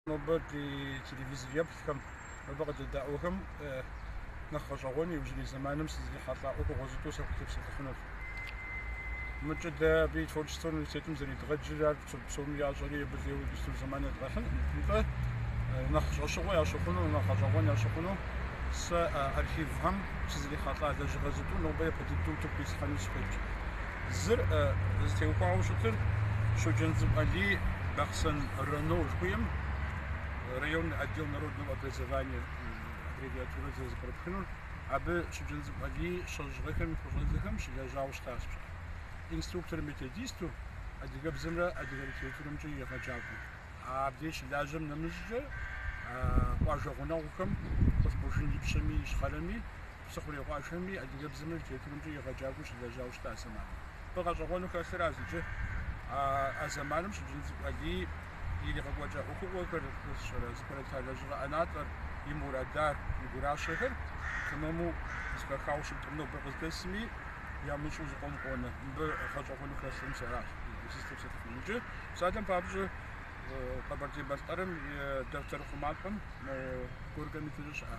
Нобэ ди телевизор еплъхэм, нобэ къыдэдаӏуэхэм нэхъ гъэщӏэгъуэну иужьрей зэманым сызрихьэлӏа ӏуэхугъуэ зытӏу сахутепсэлъыхьынур. Мыкӏэ дэ абы и творчествэ университетым зэредгъэджыр ар псоми ящӏэри абы лейуэ дыщту зэман едгъэхьынкъым. Нтӏэ, нэхъ щӏэщыгъуэ ящыхъуну, нэхъ гъэщӏэгъуэн ящыхъуну сэ архивхэм сызрихьэлӏа лэжьыгъэ зытӏу нобэ япэ дыдэу утыку ислъхьэну сыхуейт. Зыр зытеухуауэ щытыр Щоджэнцӏыкӏу Алий Бахъсэн районо жыхуиӏэм районный отдел народного образования аббревиатурэ зэрызэпкърыпхынур, абы Щоджэнцӏыкӏу Алий щэщӏ гъэхэм и пэщӏэдзэхэм щылэжьауэ щытащ пщӏэ инструктор-методисту, адыгэбзэмрэ адыгэ литературэмкӏэ егъэджакӏуэу. Абдеж щылажьэм нэмыщӏкӏэ къуажэ гъунэгъухэм Къулъкъужын Ипщэми Ищхъэрэми Псыхъурей къуажэми, адыгэбзэмрэ литературэмкӏэ егъэджакӏуэу щылэжьауэ щыта зэманым. Абы гъэщӏэгъуэну хэлъыращ иджы а а зэманым Щоджэнцӏыкӏу Алий иригъэкӏуэкӏа ӏуэхугъуэхэр, зыпэрыта лэжьыгъэ ӏэнатӏэр, и мурадар, и гуращэхэр тэмэму зэхэхауэ щыткъым. Нобэ къыздэсми ямыщӏу зыкъом къонэ. Мыбы гъэщӏэгъуэну хэлъым сэ аращ сызытепсэлъыхьынур. Иджы псалъэм папщӏэ Къэбэрдей-Балъкъэрым и дэфтэр хъумапӏэм мо Горькэм и фызыр щыӏэ.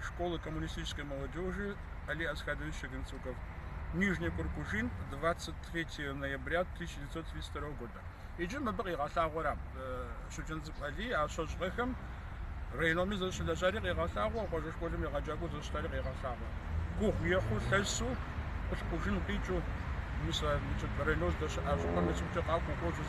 школы коммунистической молодежи Али Асхадович Шогенцуков. Нижний Куркужин, 23 ноября 1932 года. Иджы мыбы къигъэлъагъуэращ Щоджэнцӏыкӏу Алий а щэщӏ гъэхэм райономи зэщылэжьари къегъэлъагъуэ, къуажэ школым егъэджакӏуэу зэщытари къегъэлъагъуэ. Гугъу ехьу лъэсу, Къулъкъужын къикӏыу, мис а районыр здэщыӏа щӏыпӏэм и цӏыкӏукӏэ къакӏуэу кӏуэжу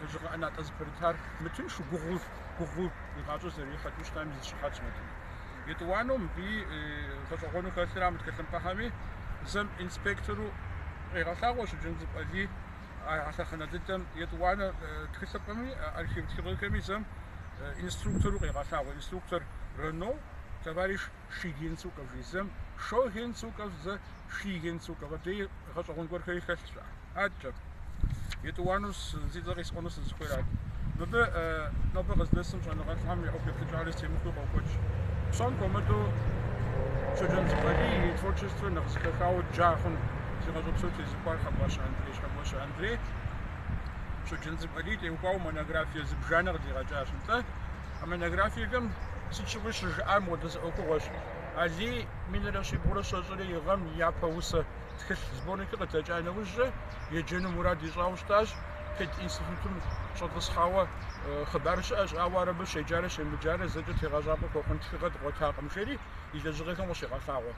Лэжьыгъэ ӏэнатӏэ зыпэрытар мытыншу гугъу гугъу и гъащӏэ зэрихьэкӏыу щытам и зы щыхьэтщ мыдэ. Етӏуанэу мыбы гъэщӏэгъуэну хэлъыращ мы тхылъымпӏэхэми зэм инспектору къегъэлъагъуэ Щоджэнцӏыкӏу Алий а лъэхъэнэ дыдэм етӏуанэ тхылъымпӏэми архив тхыгъэхэми зэм инструктору къегъэлъагъуэ инструктор районо товарищ Шигенцуков жи зэм, Шогенцуков зэ, Шигенцуков хуэдэ гъэщӏэгъуэн гуэрхэри хэлъщ адкӏэ. Етӏуанэу зи цӏэ къисӏуэну сызыхуейрат. Мыбы нобэ къыздэсым щӏэныгъэлӏхэм я ӏуэху еплъыкӏэр зэтемыхуэу къокӏуэкӏ. Псом хуэмыдэу Щоджэнцӏыкӏу Алий и творчествэр нэхъ зэхэхауэ джа хъуным зи гъащӏэ псор тезыухуар Хьэкӏуащэ Андрей. Хьэкӏуащэ Андрей Щоджэнцӏыкӏу Алий теухуауэ монографие зыбжанэ къыдигъэкӏащ. Нтӏэ, А монографиехэм сыт щыгъуи щыжиӏар мыпхуэдэ зы ӏуэхугъуэщ. Алий минрэ щибгъурэ щэщӏрэ и гъэм и япэ усэ тхылъ сборникыр къыдэкӏа нэужькӏэ еджэну мурад ищӏауэ щытащ. Пединститутым щӏэтӏысхьауэ хъыбар щыӏэщ, ауэ ар абы щеджарэ щемыджарэ зэкӏэ тегъэщӏапӏэ хуэхъун тхыгъэ дгъуэтакъым, жери и лэжьыгъэхэм къыщигъэлъагъуэ.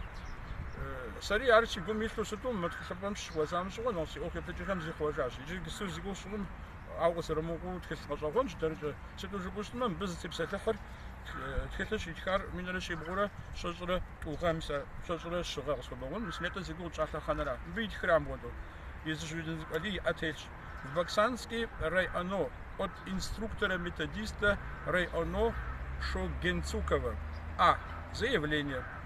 Сэри ар си гум илъу щыту мы тхылъымпӏэм сыщыхуэзам щыгъуэ нэхъ си ӏуэху еплъыкӏэхэм зихъуэжащ. Иджыпсту зи гугъу щыгъум Ауэ къызэрымыкӏуэу тхылъ гъэщӏэгъуэнщ дэркӏэ. Сыту жыпӏэу щытмэ, мыбы зытепсэлъыхьыр тхылъыр щитхар минрэ щибгъурэ щэщӏрэ тӏу гъэ, мис а щэщӏрэ щы гъэ, къысхуэбгъэгъун, мис нетӏэ зи гугъу тщӏа лъэхъэнэра. Мыбы итхыра, мыпхуэдэу езы Щоджэнцӏыкӏу Алий и ӏэ телъщ. В Баксанский районо от инструктора-методиста районо Шогенцукова А. Заявление.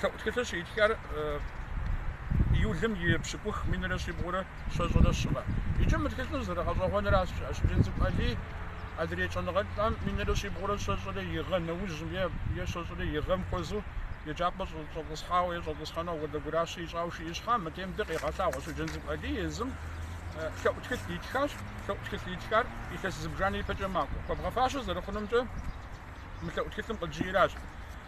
Лъэӏу тхылъыр щитхар июлым и пщыкӏух минрэ щибгъурэ щэщӏрэ щы гъэ. Иджы мы тхылъыр зэрыгъэщӏэгъуэнращ, Щоджэнцӏыкӏу Алий адрей щӏэныгъэлӏам минрэ щибгъурэ щэщӏрэ и гъэ нэужьым е е щэщӏрэ и гъэм хуэзэу еджапӏэ щӏэтӏысхьауэ е щӏэтӏысхьэну апхуэдэ гуращэ ищӏауэ жаӏэ щхьа, мыдейм дэ къегъэлъагъуэ Щоджэнцӏыкӏу Алий езым лъэӏу тхылъ итхащ. Лъэӏу тхылъ итхар илъэс зыбжанэ ипэкӏэ макӏуэ. Хуэбгъэфащэ зэрыхъунумкӏэ мы лъэӏу тхылъым къыджиӏэращ.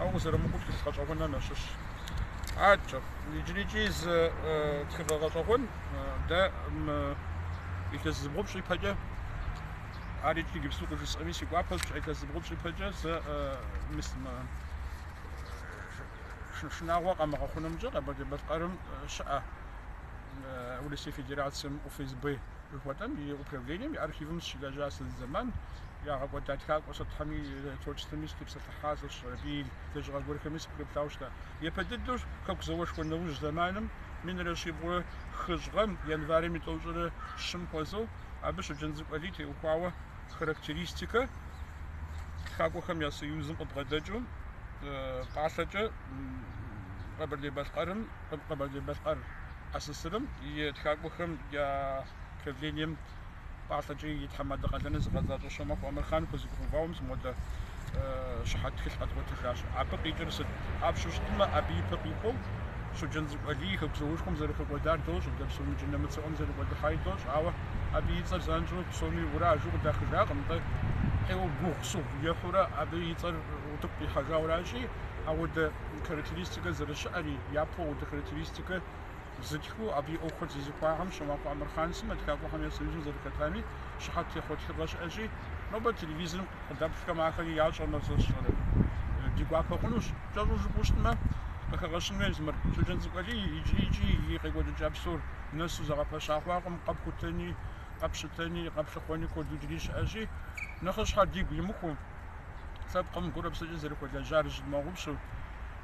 Ауэ къызэрымыкӏуэу тхылъ гъэщӏэгъуэнхэм ящыщщ. Адэкӏэ, иджырикӏи зы тхыгъэ гъэщӏэгъуэн дэ илъэс зыбгъупщӏ ипэкӏэ ар икӏи иджыпсту къыжысӏэми си гуапэщ, илъэс зыбгъупщӏ ипэкӏэ сэ шынагъуэ къэмыгъэхъунымкӏэ Къэбэрдей-Балъкъэрым щыӏэ Урысей Федерацэм ФСБ жыхуэтӏэм и управлением и архивым сыщылэжьащ зы зэман, ягъэкӏуэда тхакӏуэ сытхэм я творчествэми сытепсэлъы хьащ, абы и лэжьыгъэ гуэрхэми сыпкърыплъауэ щыта. Япэ дыдэу Хэку зауэшхуэ нэужь зэманым, минрэ щибгъурэ хыщӏ гъэм, январым и тӏощӏрэ щым хуэзэу, абы Щоджэнцӏыкӏу Алий теухуауэ характеристикэ Тхакӏуэхэм я союзым къыбгъэдэкӏыу пӏалъэкӏэ Къэбэрдей-Балъкъэрым, Къэбэрдей-Балъкъэр АССР-м и Тхакӏуэхэм я правлением Пӏалъэкӏэ и тхьэмадэ къалэныр зыгъэзащӏэ Щомахуэ Амырхъан хузэхигъэувауэ мис мыпхуэдэ щыхьэт тхылъ къэдгъуэтыжащ. Абы къикӏыр сыт жыпӏэу щытмэ, абы и пэ къихуэу Щоджэнцӏыкӏу Алий Хэку зауэшхуэм зэрыхэкӏуэдар дощӏэ дэ псоми, нэмыцэ ӏуэм зэрикӏуэдыхьари дощӏэ, ауэ абы и цӏэр занщӏэу псоми ура жаӏэу къыдахыжакъым, атӏэ ӏейуэ гугъу сыгъу ехьурэ абы и цӏэр утыку къихьэжауращи, апхуэдэ характеристикэ зэрыщыӏэри, япэу апхуэдэ характеристикэ Зытхыу абы и ӏуэхухэр зезыхуахэм, Щомахуэ Амырхъан сымэ Тхакӏуэхэм я союзым зэрыхэтами, щыхьэт техъуэ тхыгъэ щыӏэщи, нобэ телевизорым къыдэплъхэм ахэри ящӏэмэ ди гуапэ хъунущ, кӏэщӏу жыпӏэу щытмэ, къыхэгъэщын хуейщ мыр. Щоджэнцӏыкӏу Алий иджыри и къекӏуэкӏыкӏа псор нэсу зэгъэпэща хъуакъым, къэпхутэни, къэпщытэни, къэплъыхъуэни куэд иджыри щыӏэщи, нэхъыщхьэр дигу имыхуу, лъэпкъым гурэ-псэкӏэ зэрыхуэлэжьар тщымыгъупщэу,